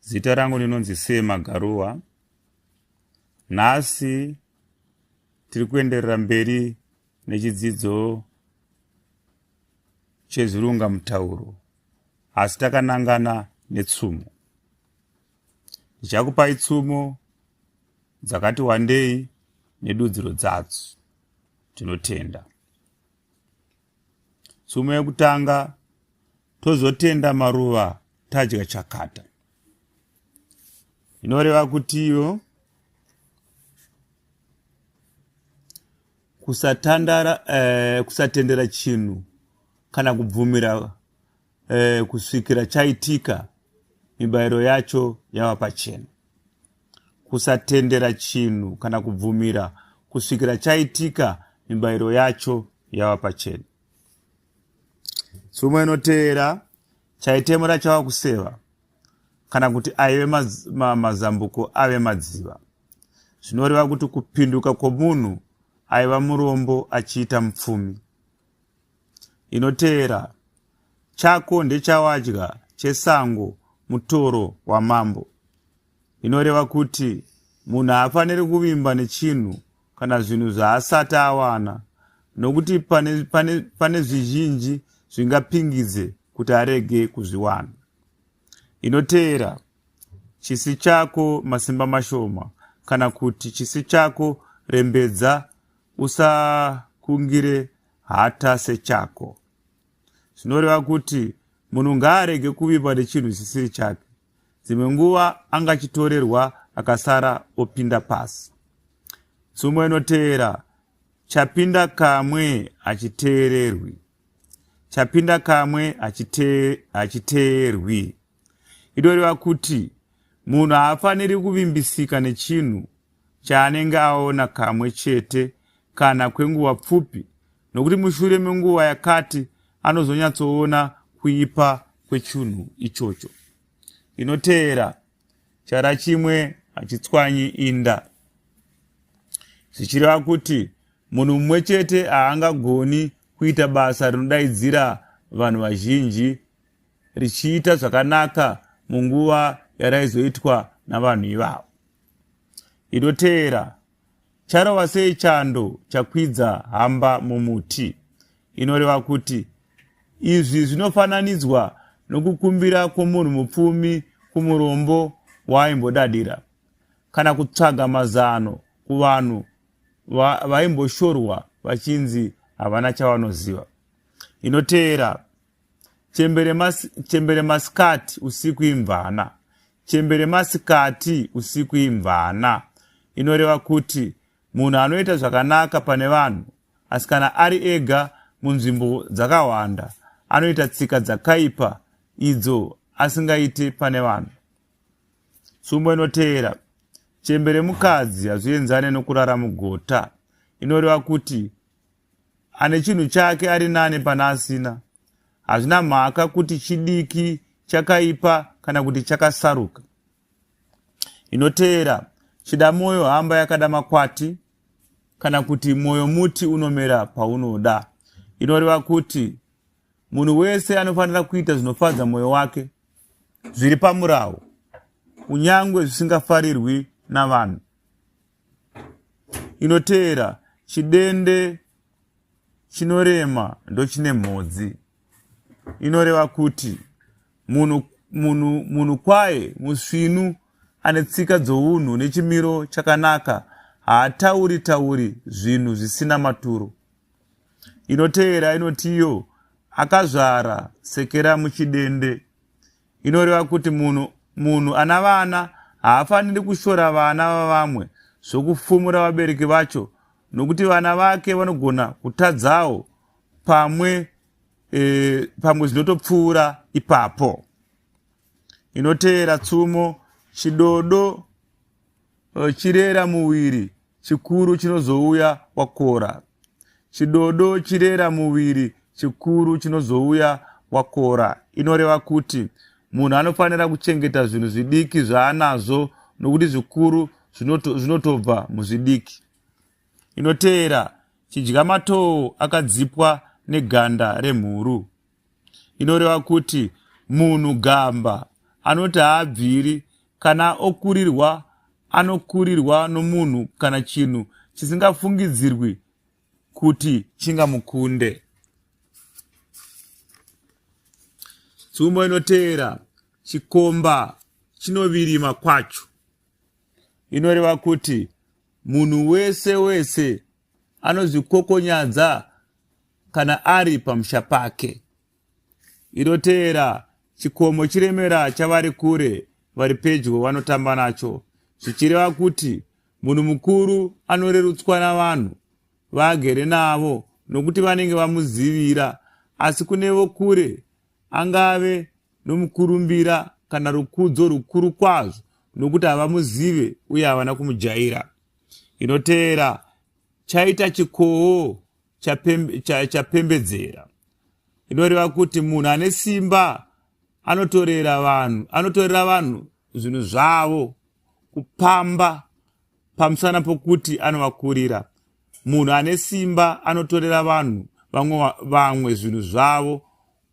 Zita rangu ndinonzi Sema Garuwa. Nhasi tiri kuenderera mberi nechidzidzo chezvirunga mutauro asi takanangana netsumo. Ndichakupai tsumo dzakati wandei nedudziro dzadzo. Tinotenda. tsumo yekutanga tozotenda maruva tadya chakata inoreva kutiwo kusatandara eh, kusatendera chinhu kana kubvumira eh, kusvikira chaitika mibayiro yacho yava pachena kusatendera chinhu kana kubvumira kusvikira chaitika mibayiro yacho yava pachena tsumo inoteera chaitemura chava kuseva kana kuti aive maz, ma, mazambuko ave madziva zvinoreva kuti kupinduka kwomunhu aiva murombo achiita mupfumi inoteera chako ndechawadya chesango mutoro wamambo Inoreva kuti munhu haafaniri kuvimba nechinhu kana zvinhu zvaasati awana nokuti pane, pane, pane zvizhinji zvingapingidze kuti arege kuzviwana. Inoteera chisi chako masimba mashoma kana kuti chisi chako rembedza usakungire hata sechako zvinoreva kuti munhu ngaarege kuvimba nechinhu chisiri chake dzimwe nguva anga achitorerwa akasara opinda pasi tsumo inoteera chapinda kamwe hachiteererwi chapinda kamwe hachiteerwi itoreva kuti munhu haafaniri kuvimbisika nechinhu chaanenge aona kamwe chete kana kwenguva pfupi nokuti mushure menguva yakati anozonyatsoona kuipa kwechunhu ichocho inoteera chara chimwe hachitswanyi inda zvichireva kuti munhu mumwe chete haangagoni kuita basa rinodaidzira vanhu vazhinji richiita zvakanaka munguva yaraizoitwa navanhu ivavo inoteera Charova sei chando chakwidza hamba mumuti inoreva kuti izvi zvinofananidzwa nokukumbira kwomunhu mupfumi kumurombo waaimbodadira kana kutsvaga mazano kuvanhu vaimboshorwa vachinzi havana chavanoziva inoteera Chembere, mas, chembere masikati usiku imvana. Chembere masikati usiku imvana inoreva kuti munhu anoita zvakanaka pane vanhu asi kana ari ega munzvimbo dzakawanda anoita tsika dzakaipa idzo asingaite pane vanhu. Tsumbo inoteera chembere mukadzi hazvienzane nokurara mugota inoreva kuti ane chinhu chake ari nani pana asina hazvina mhaka kuti chidiki chakaipa kana kuti chakasaruka inoteera chida mwoyo hamba yakada makwati kana kuti mwoyo muti unomera paunoda inoreva kuti munhu wese anofanira kuita zvinofadza mwoyo wake zviri pamurawo kunyange zvisingafarirwi navanhu inoteera chidende chinorema ndochine mhodzi inoreva kuti munhu munhu munhu kwaye musvinu ane tsika dzounhu nechimiro chakanaka haatauri tauri zvinhu zvisina maturo inoteera inotiyo akazvara sekera muchidende inoreva kuti munhu munhu ana vana haafaniri kushora vana vavamwe zvokufumura vabereki vacho nokuti vana vake vanogona kutadzawo pamwe e, pamwe zvinotopfuura ipapo inoteera tsumo chidodo Eh, chirera muviri chikuru chinozouya wakora chidodo chirera muviri chikuru chinozouya wakora inoreva kuti munhu anofanira kuchengeta zvinhu zvidiki zvaanazvo nokuti zvikuru zvinotobva muzvidiki inoteera chidya matoo akadzipwa neganda remhuru inoreva kuti munhu gamba anoti haabviri kana okurirwa anokurirwa nomunhu kana chinhu chisingafungidzirwi kuti chingamukunde tsumbo inoteera chikomba chinovirima kwacho inoreva kuti munhu wese wese anozvikokonyadza kana ari pamusha pake. Inoteera chikomo chiremera chavari kure vari pedyo vanotamba nacho zvichireva kuti munhu mukuru anorerutswa navanhu vaagere navo nokuti vanenge vamuzivira asi kune vokure angave nomukurumbira kana rukudzo rukuru kwazvo nokuti havamuzive uye havana kumujaira inoteera chaita chikowo chapembedzera cha, inoreva kuti munhu ane simba anotorera vanhu anotorera vanhu zvinhu zvavo kupamba pamusana pokuti anovakurira munhu ane simba anotorera vanhu vamwe vamwe zvinhu zvavo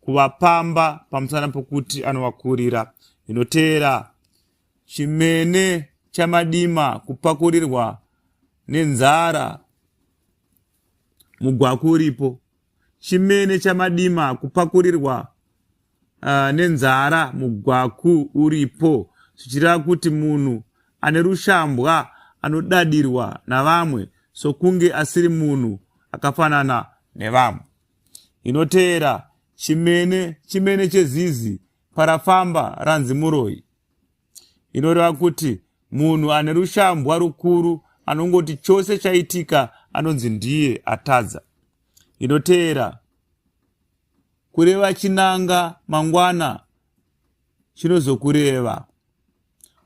kuvapamba pamusana pokuti anovakurira inoteera chimene chamadima kupakurirwa nenzara mugwaku uripo chimene chamadima kupakurirwa uh, nenzara mugwaku uripo zvichireva kuti munhu ane rushambwa anodadirwa navamwe sokunge asiri munhu akafanana nevamwe inoteera chimene chimene chezizi Parafamba ranzi muroyi inoreva kuti munhu ane rushambwa rukuru anongoti chose chaitika anonzi ndiye atadza inoteera kureva chinanga mangwana chinozokureva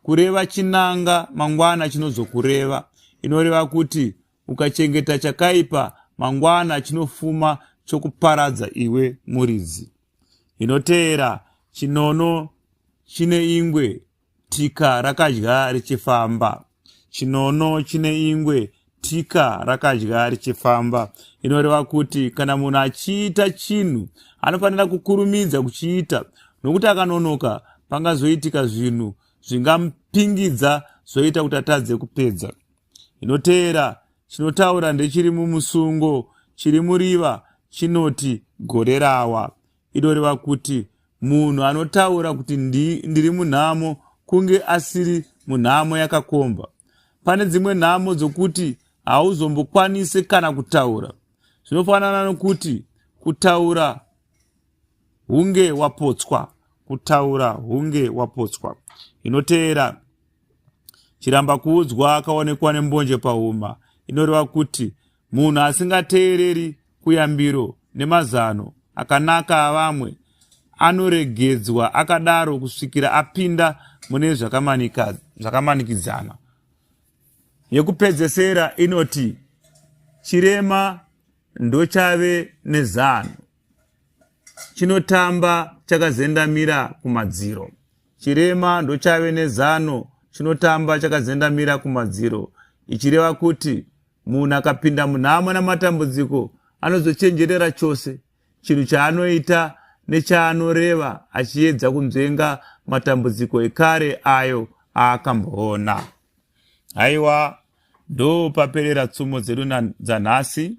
kureva chinanga mangwana chinozokureva inoreva kuti ukachengeta chakaipa mangwana chinofuma chokuparadza iwe muridzi inoteera chinono chine ingwe tika rakadya richifamba chinono chine ingwe tika rakadya richifamba inoreva kuti kana munhu achiita chinhu anofanira kukurumidza kuchiita nokuti akanonoka pangazoitika zvinhu zvingamupingidza zvoita kuti atadze kupedza inoteera chinotaura ndechiri mumusungo chiri muriva chinoti gorerawa inoreva kuti munhu anotaura kuti ndi, ndiri munhamo kunge asiri munhamo yakakomba pane dzimwe nhamo dzokuti hauzombokwanise kana kutaura zvinofanana nokuti kutaura hunge wapotswa kutaura hunge wapotswa inoteera chiramba kuudzwa akaonekwa nembonje pahuma inoreva kuti munhu asingateereri kuyambiro nemazano akanaka avamwe anoregedzwa akadaro kusvikira apinda mune zvakamanikidzana yekupedzesera inoti chirema ndochave nezano chinotamba chakazendamira kumadziro chirema ndochave nezano chinotamba chakazendamira kumadziro ichireva kuti munhu akapinda munhamo namatambudziko anozochenjerera chose chinhu chaanoita nechaanoreva achiedza kunzvenga matambudziko ekare ayo aakamboona haiwa ndopaperera tsumo dzedu dzanhasi